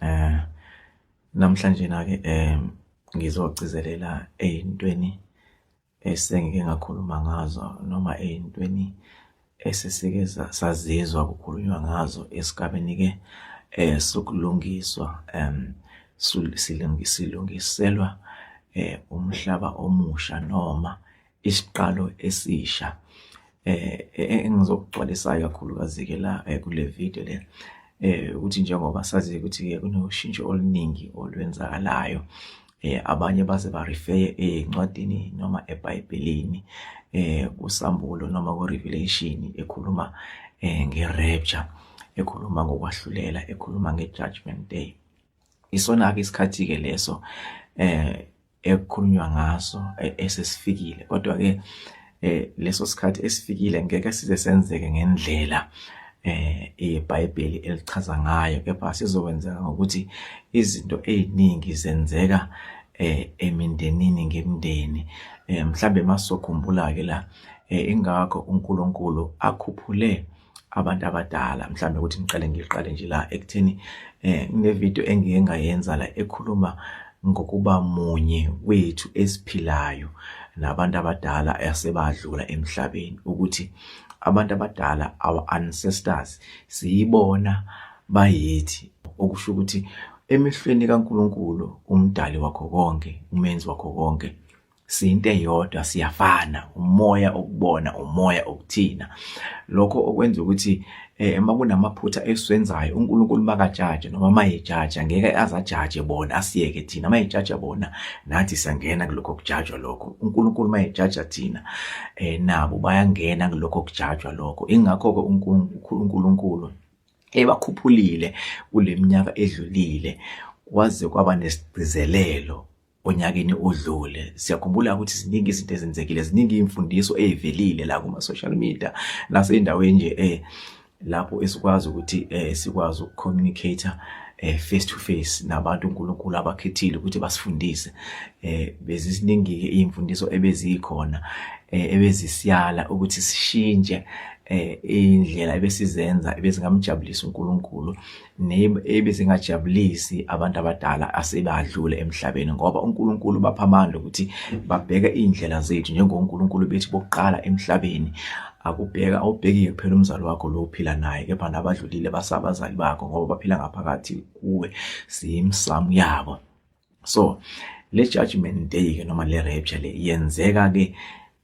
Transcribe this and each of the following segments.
Eh namhlanje na ke eh ngizogcizelela ezintweni esengike ngakhuluma ngazo noma ezintweni esesike sazizwa kukhulunywa ngazo esigabeni ke eh sokulungiswa em silungiselwa eh umhlaba omusha noma isiqalo esisha eh, eh, eh engizokugcwalisayo kakhulukazi ke la eh, kule video le eh ukuthi njengoba sazi ukuthi ke kunoshintsho oluningi olwenzakalayo eh abanye baze ba refer encwadini noma eBhayibhelini eh kusambulo noma ku revelation ekhuluma eh nge rapture ekhuluma ngokwahlulela ekhuluma nge judgment day isona ke isikhathi ke leso eh ekukhulunywa ngaso e, esesifikile kodwa ke eh, leso sikhathi esifikile ngeke size senzeke ngendlela eh iBhayibheli elichaza ngayo kepha sizokwenzeka ngokuthi izinto eziningi zenzeka eh emindenini ngemndeni eh mhlambe masokhumbula ke la eh ingakho uNkulunkulu akhuphule abantu abadala mhlawumbe ukuthi ngiqale ngiqale nje la ekutheni eh nginevideo engike ngayenza la ekhuluma ngokuba munye wethu esiphilayo nabantu abadala asebadlula emhlabeni ukuthi abantu abadala our ancestors siyibona bayithi okusho ukuthi emehlweni kaNkuluNkulu umdali wakho konke umenzi wakho konke siyinto eyodwa siyafana umoya okubona umoya okuthina lokho okwenza ukuthi eh, uma kunamaphutha esiwenzayo uNkulunkulu makajaje noma mayejaja ngeke azajaje bona asiyeke thina mayejaja bona nathi sangena kulokho kujajwa lokho uNkulunkulu mayejaja thina eh, nabo bayangena kulokho kujajwa lokho ingakho ke uNkulunkulu ebakhuphulile kuleminyaka edlulile kwaze kwaba nesigcizelelo onyakeni odlule siyakhumbula ukuthi ziningi izinto ezenzekile ziningi imfundiso ezivelile la kuma social media naseyindaweni nje eh lapho esikwazi ukuthi eh sikwazi ukucommunicate eh face to face nabantu uNkulunkulu abakhethile ukuthi basifundise eh beziziningi ke imfundiso ebezikhona eh ebezisiyala ukuthi sishintshe eh indlela ebesizenza ebezingamjabulisa uNkulunkulu nebe singajabulisi abantu abadala asebadlule emhlabeni ngoba uNkulunkulu bapha amandla ukuthi babheke indlela zethu njengoNkulunkulu bethi bokuqala emhlabeni akubheka awubhekike kuphela umzali wakho lo uphila naye kepha nabadlulile basabazali bakho ngoba baphila ngaphakathi kuwe siyimsamu yabo so le judgment day ke noma le rapture le yenzeka ke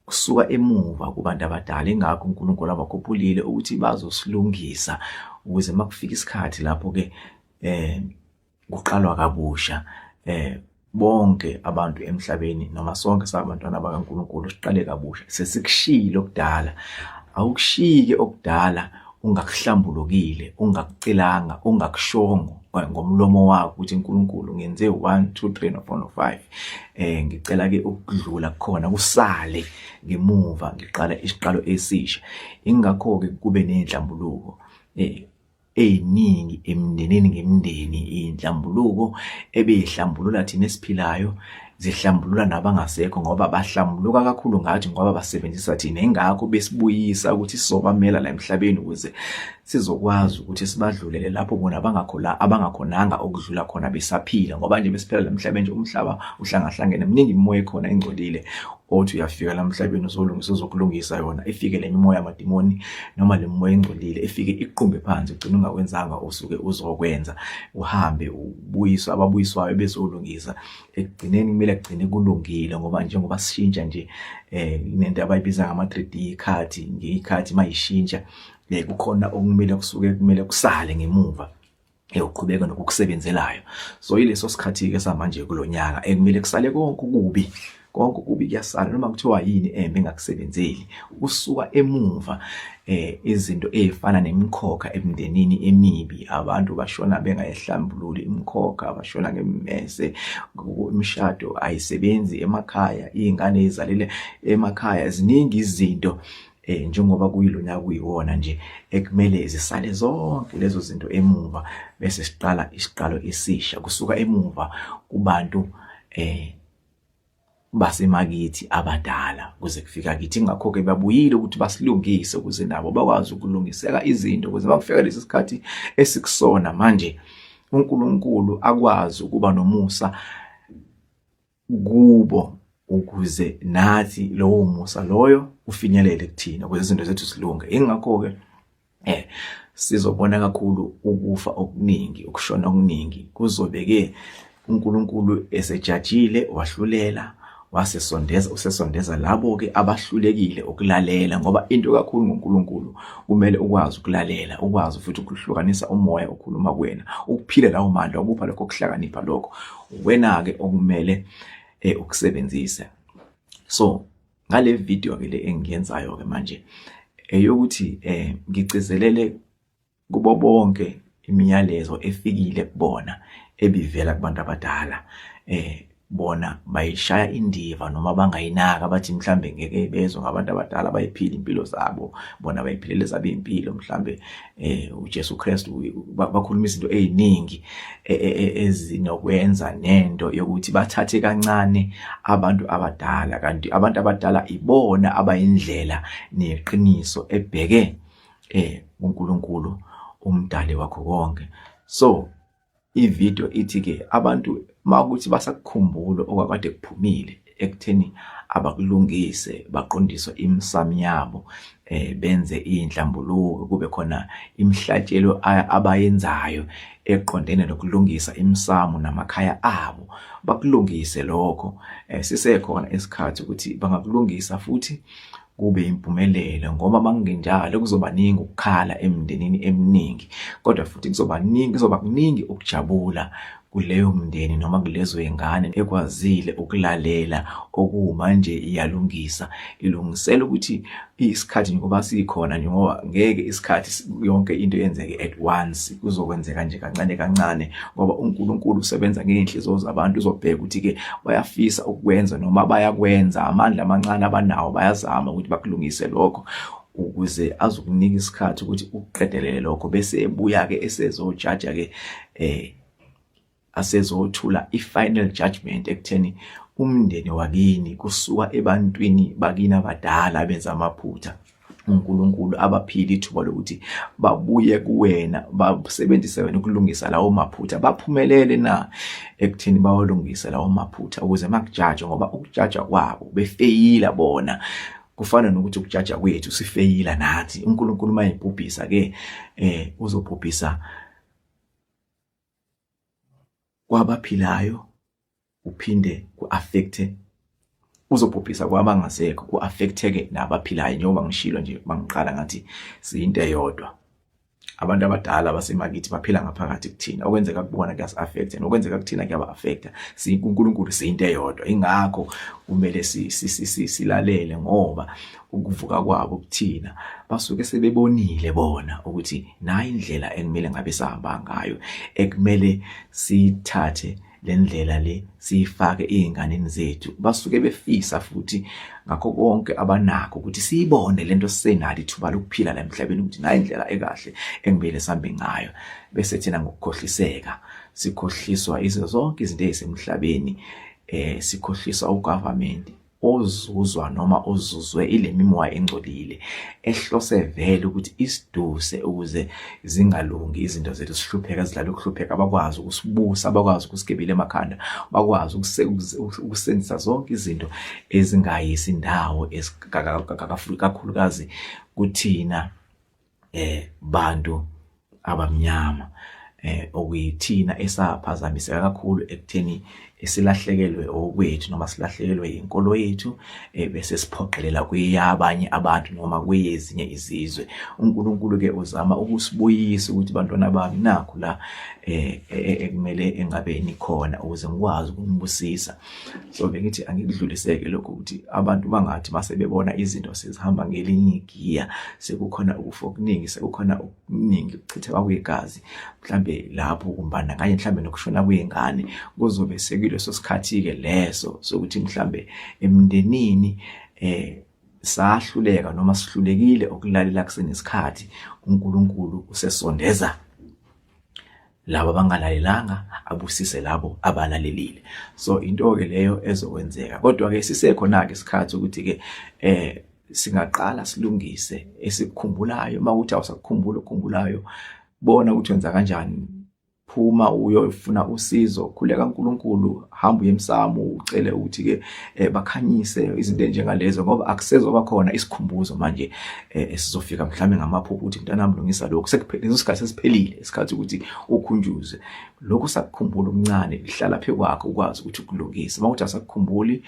kusuka emuva kubantu abadala ingakho uNkulunkulu abakhuphulile ukuthi bazosilungisa ukuze makufika isikhathi lapho ke eh kuqalwa kabusha eh bonke abantu emhlabeni noma sonke sabantwana bakaNkulunkulu siqale kabusha sesikushilo kudala awukushike okudala ungakuhlambulukile ungakucelanga ungakushongo ngomlomo wakho ukuthi uNkulunkulu ngenze 1 2 3 no 4 no 5 eh ngicela ke ukudlula khona kusale ngemuva ngiqala isiqalo esisha ingakho ke kube nenhlambuluko eh eziningi emindenini ngemindeni inhlambuluko ebeyihlambulula thina esiphilayo zihlambulula nabangasekho ngoba bahlambuluka kakhulu ngathi ngoba basebenzisa thina ingakho besibuyisa ukuthi sobamela la emhlabeni ukuze sizokwazi ukuthi sibadlulele lapho bona abangakhola abangakhonanga ukudlula khona besaphila ngoba nje besiphela lemhlabeni nje umhlaba uhlangahlangene mningi imimoya ekhona ingcolile othi uyafika lamhlabeni uzolungisa uzokulungisa yona ifike le mimoya yamadimoni noma le mimoya engcolile ifike iqumbe phansi ugcina ungakwenzanga usuke uzokwenza uhambe ubuyiswa ababuyiswayo bezolungisa ekugcineni kumele kugcine kulungile ngoba njengoba sishintsha nje eh nento abayibiza ngama 3D card ngeyikhathi mayishintsha nekukhona okumele kusuke kumele kusale ngemuva eyoqhubeka nokukusebenzelayo so ileso sikhathi ke samanje kulonyaka ekumele kusale konke kubi konke kubi kuyasala noma kuthiwa yini embe engakusebenzeli ukusuka emuva eh izinto ezifana nemikhokha emndenini emibi abantu bashona bengayihlambululi imikhokha bashona ngemmese imishado ayisebenzi emakhaya izingane ezalile emakhaya ziningi izinto eh njengoba kuyilona kuyiwona nje ekumele zisale zonke lezo zinto emuva bese siqala isiqalo esisha kusuka emuva kubantu eh basemakithi abadala kuze kufika kithi ngakho ke babuyile ukuthi basilungise ukuze nabo bakwazi ukulungiseka izinto ukuze bakufika lesi sikhathi esikusona manje uNkulunkulu akwazi ukuba nomusa kubo ukuze nathi lowo musa loyo ufinyelele kuthina ukuze izinto zethu zilunge ingakho-ke eh sizobona kakhulu ukufa okuningi ukushona okuningi kuzobe-ke uNkulunkulu esejajile wahlulela wasesondeza usesondeza labo-ke abahlulekile ukulalela ngoba into kakhulu ngoNkulunkulu kumele ukwazi ukulalela ukwazi futhi ukuhlukanisa umoya okhuluma kuwena ukuphile lawo mandla ukupha lokho kuhlakanipha lokho uwena-ke okumele eh, ukusebenzise so ngale video ke le engiyenzayo ke manje eyokuthi eh ngigcizelele kubo bonke imiyalezo efikile kubona ebivela kubantu abadala eh bona bayishaya indiva noma bangayinaka bathi mhlambe ngeke bezwe ngabantu abadala bayiphila impilo zabo bona bayiphilela zabo impilo mhlambe eh uJesu Kristu bakhuluma izinto eziningi e, e, e, ezinokwenza nento yokuthi bathathe kancane abantu abadala kanti abantu abadala ibona abayindlela neqiniso ebheke eh uNkulunkulu umdali wakho konke so I-video ithi-ke abantu makuthi basakukhumbula okwakade kuphumile ekutheni abakulungise baqondiswe imisamo yabo eh benze inhlambuluko kube khona imihlatshelo abayenzayo eqondene nokulungisa imisamo namakhaya abo bakulungise lokho eh, sisekhona isikhathi ukuthi bangakulungisa futhi kube impumelelo ngoba makungenjalo kuzobaningi ukukhala emndenini eminingi kodwa futhi kuzobaningi kuzoba kuningi ukujabula kuleyo mndeni noma kulezo ingane ekwazile ukulalela okuwuma nje iyalungisa ilungisela ukuthi isikhathi ngoba sikhona nje ngoba ngeke isikhathi yonke into yenzeke at once kuzokwenzeka nje kancane kancane ngoba uNkulunkulu usebenza ngeenhliziyo zabantu uzobheka ukuthi ke bayafisa ukukwenza noma bayakwenza amandla amancane abanawo bayazama ukuthi bakulungise lokho ukuze azokunika isikhathi ukuthi uqedelele lokho bese ebuya ke esezojaja ke eh asezothula i-final judgment ekutheni umndeni wakini kusuka ebantwini bakini abadala benza amaphutha uNkulunkulu abaphile ithuba lokuthi babuye kuwena basebenzise wena ukulungisa lawo maphutha baphumelele na ekuthini bawalungise lawo maphutha ukuze makujajwa ngoba ukujaja kwabo befeyila bona kufana nokuthi ukujaja kwethu sifeyila nathi uNkulunkulu mayebhubhisa ke eh uzobhubhisa kwabaphilayo uphinde ku-affecte uzobhubhisa kwabangasekho ku-affecteke nabaphilayo njengoba ngishilo nje bangiqala ngathi siyinto eyodwa abantu abadala basemakithi baphila ngaphakathi kuthina okwenzeka kubona kuyasi-affecta nokwenzeka kuthina kuyaba-affecta kunkulunkulu siyinto eyodwa ingakho kumele silalele ngoba ukuvuka kwabo kuthina basuke sebebonile bona ukuthi nayi indlela ekumele ngabe sihamba ngayo ekumele sithathe le ndlela le siyifake ezinganeni zethu basuke befisa futhi ngakho konke abanako ukuthi siyibone lento sisenalo ithuba lokuphila la emhlabeni ukuthi nayi indlela ekahle engibele sambe ngayo bese thina ngokukhohliseka sikhohliswa izo zonke izinto ezisemhlabeni eh sikhohliswa ugovernment ozuzwa noma ozuzwe ile mimoya engcolile ehlose vele ukuthi isiduse ukuze zingalungi izinto zethu sihlupheka zidlala ukuhlupheka bakwazi ukusibusa bakwazi ukusigebile emakhanda bakwazi ukusenzisa zonke izinto ezingayisi ndawo kakhulukazi kuthina eh bantu abamnyama eh okuyithina esaphazamiseka kakhulu ekutheni esilahlekelwe okwethu noma silahlekelwe inkolo yethu eh, bese siphoqelela kuyabanye abantu noma kuyezinye izizwe uNkulunkulu ke uzama ukusibuyisa ukuthi bantwana bami nakho la eh, eh, eh ekumele engabe nikhona ukuze ngikwazi ukumbusisa so bengithi angikudluliseke lokho ukuthi abantu bangathi mase bebona izinto sezihamba ngelinye igiya sekukhona ukufa okuningi sekukhona okuningi ukuchitheka kwegazi mhlambe lapho kumbandakanye mhlambe nokushona kwengane kuzobe sekuleso sikhathi-ke leso sokuthi mhlambe emndenini eh sahluleka noma sihlulekile ukulalela kusenesikhathi uNkulunkulu usesondeza labo abangalalelanga abusise labo abalalelile so into ke leyo ezokwenzeka kodwa ke sisekhona ke isikhathi ukuthi ke eh singaqala silungise esikukhumbulayo uma ukuthi awusakukhumbula okukhumbulayo bona ukuthi wenza kanjani phuma uyofuna usizo khuleka uNkulunkulu hamba uye emsamo ucele ukuthi ke eh, bakhanyise izinto njengalezo ngoba akusezoba khona isikhumbuzo manje eh, esizofika mhlawumbe ngamaphupho ukuthi mntanami lungisa lokho sekuphelile isikhathi sesiphelile isikhathi ukuthi ukhunjuzwe lokho sakukhumbula umncane lihlala phe kwakho ukwazi ukuthi ukulungise mawuthi asakukhumbuli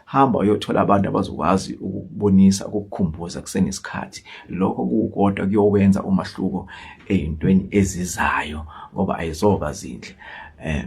hamba uyothola abantu abazokwazi ukubonisa ukukukhumbuza kusenesikhathi lokho kukodwa kuyowenza umahluko eyintweni ezizayo ngoba ayizoba zinhle um